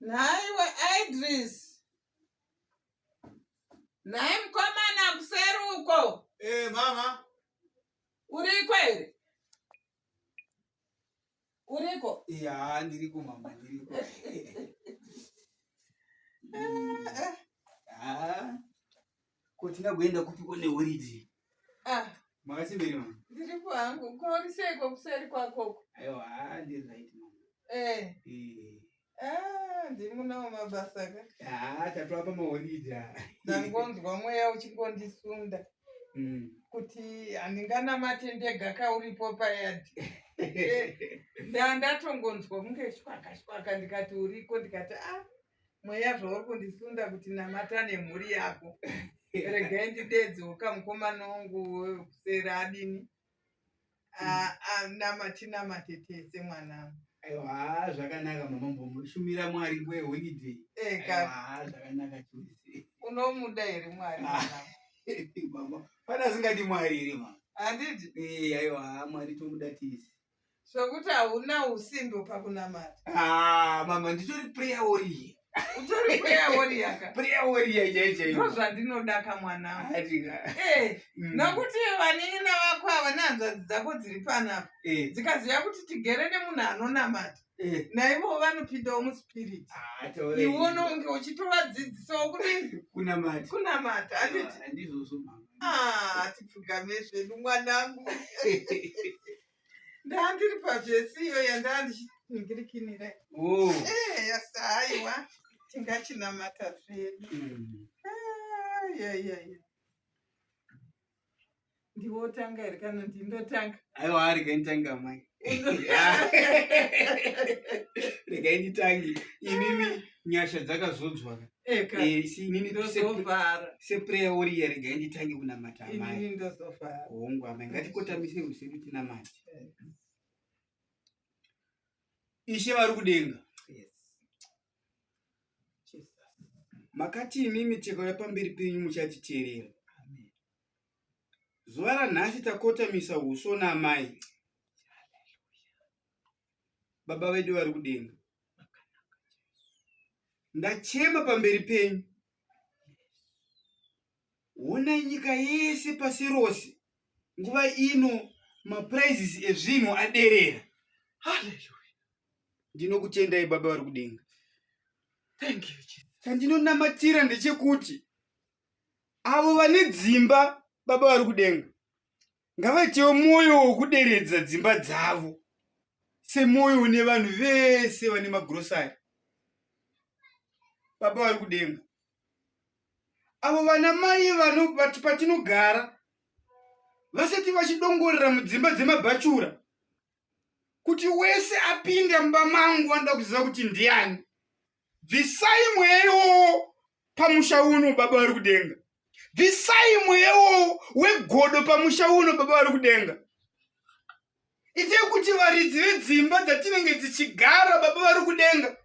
nhai we idris nhai mukomana kuseri uko eh mama uriko here uriko ya ndiriko mama ndiriko Ko tingagoenda kupi kone holiday? Ah. Makasimbiri mama. Ndiri kwangu. Ko uri sei ko kuseri kwako? Aiwa, ah ndiri right mama. Eh. Eh. Ah, ndiri munawo mabasa ka. Ah, tatwa pa maholiday. Ndangonzwa mweya uchingondisunda. Mm. Kuti handinganamate ndega ka uripo payadi. Eh, ndandatongonzwa kunge shwaka shwaka ndikati uriko ndikati ah mweya zvauri kundisunda kuti namata nemhuri yako regai ndidedzoka mukomana wangu kuseri adini namatinamate tese mwanangu aiwa zvakanaka mama mbomushumira mwari nguva yeholiday eka zvakanaka chose unomuda here mwari mama pana asingadi mwari here mama handiti aiwa mwari tomuda tisi Sokuti hauna usimbo pakunamata. Ah, mama nditori prayer warrior. Utori prayer warrior ka? Prayer warrior chaiye chaiye. Ndozvandinoda ka mwana. Hatika. Eh, mm. nokuti vanini navako ava nehanzvadzi dzako dziri panapa. Eh. Dzikaziva kuti tigere nemunhu anonamata. Eh. naivo vanopindawo muspirit ah, iwe unonge uchitovadzidzisawo kunamatakunamata atipfugame ah, zvedu mwanangu ndandiri pazvesi iyo yandaa ndichitingirikinira oh. eh, yasa aiwa tingachinamata zvedu hmm. ah, ndiwo otanga here kana ndindotanga aiwa regai nditanga mai regai nditangi inini nyasha dzakazodzwa eh, eh, inini seprayer woriya regai nditange kunamata amai hongu amai ngatikotamise usiku tinamati eh. ishe vari kudenga makati imi miteko yapamberi penyu muchatiteerera zuva ranhasi takotamisa uso naamai baba vedu vari kudenga ndachema pamberi penyu Hona nyika yese pasi rose nguva ino maprices ezvinhu aderera. Hallelujah. Ndinokutendai baba vari kudenga. Thank you Jesus. Chandinonamatira ndechekuti avo vane dzimba baba vari kudenga ngavaitewo mwoyo wokuderedza dzimba dzavo semwoyo une vanhu vese vane magrosari baba vari kudenga avo vana mai vanoti patinogara vasati vachidongorera mudzimba dzemabhachura kuti wese apinda mumba mangu vanoda kuziva kuti ndiani bvisai mweya iwowo pamusha uno baba vari kudenga bvisai mweya iwowo wegodo pamusha uno baba vari kudenga itai kuti varidzi vedzimba dzatinenge dzichigara baba vari kudenga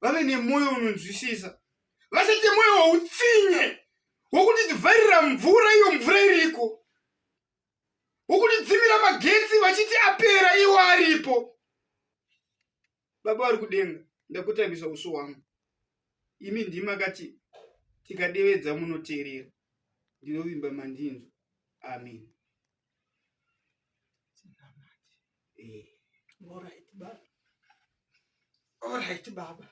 vave nemwoyo unonzwisisa vasati mwoyo woutsinye wokuti tivharira mvura iyo mvura iriko wokutidzimira magetsi vachiti apera iwo aripo Baba vari kudenga, ndakutambisa uso hwangu. Imi ndimi makati tikadevedza munoteerera. Ndinovimba mandinzwa. Amen. Eh. Alright, baba. Alright, baba.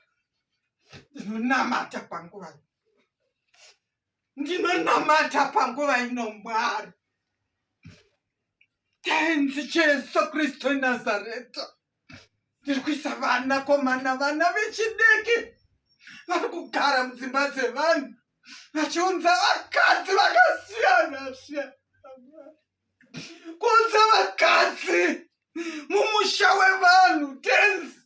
Ndinonamata panguva. ndinonamata panguva ino mwari tenzi jesu kristu nazareta ndiri kuisa vana komana vana vechidiki vari kugara mudzimba dzevanhu vachiunza vakadzi vakasiyana siyana kuunza vakadzi mumusha wevanhu tenzi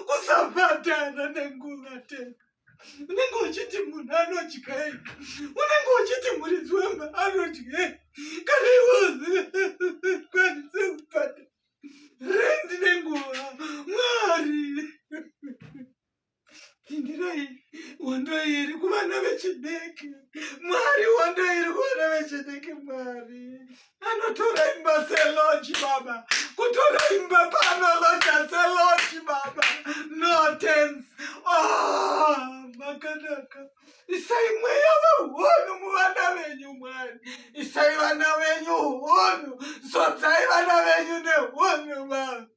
kusabatana nenguva tena unenge uchiti munhu anodyei unenge uchiti muridzi wemba anodyei kana iwe kwanise kubata rendi nenguva mwari tindirai hondo iri kuvana vechidiki mwari hondo iri kuvana vechidiki mwari anotora imba seloji baba kutora imba paanaloja seloji baba no tens ah, makanaka isai mweya wehunhu muvana venyu mwari isai vana venyu hunhu zodzai vana venyu nehunhu baba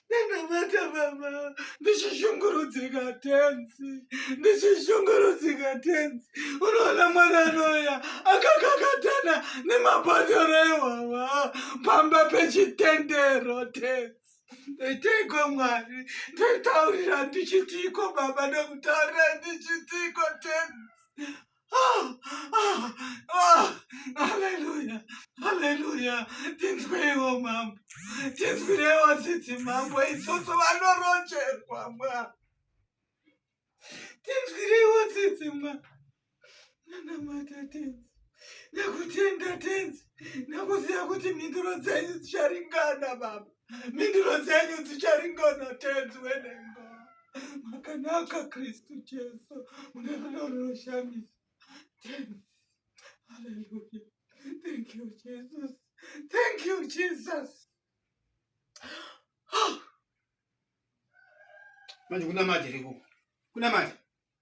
ndakabata baba ndichishungurudzika tenzi ndichishungurudzika tenzi unoona mwana anoya akakakatana nemabhodhoro ehwahwa pamba pechitendero tenzi ndoiteiko mwari ndotaurira ndichitiiko baba ndokutaurira ndichitiiko tenzi Haleluya, haleluya, tinzwirewo mambo, tinzwirewo tsitsi mambo, isusu vanorocherwa mwa, tinzwirewo tsitsi mwa, nanamata tenzi, nakutenda tenzi, nakuziva kuti mhinduro dzenyu dzicharingana baba, mhinduro dzenyu dzicharingana tenzi wedengo. makanaka kristu jesu mune rudo runoshamisa haleluya thank you jesus thank you jesus manje kunamati riko kunamati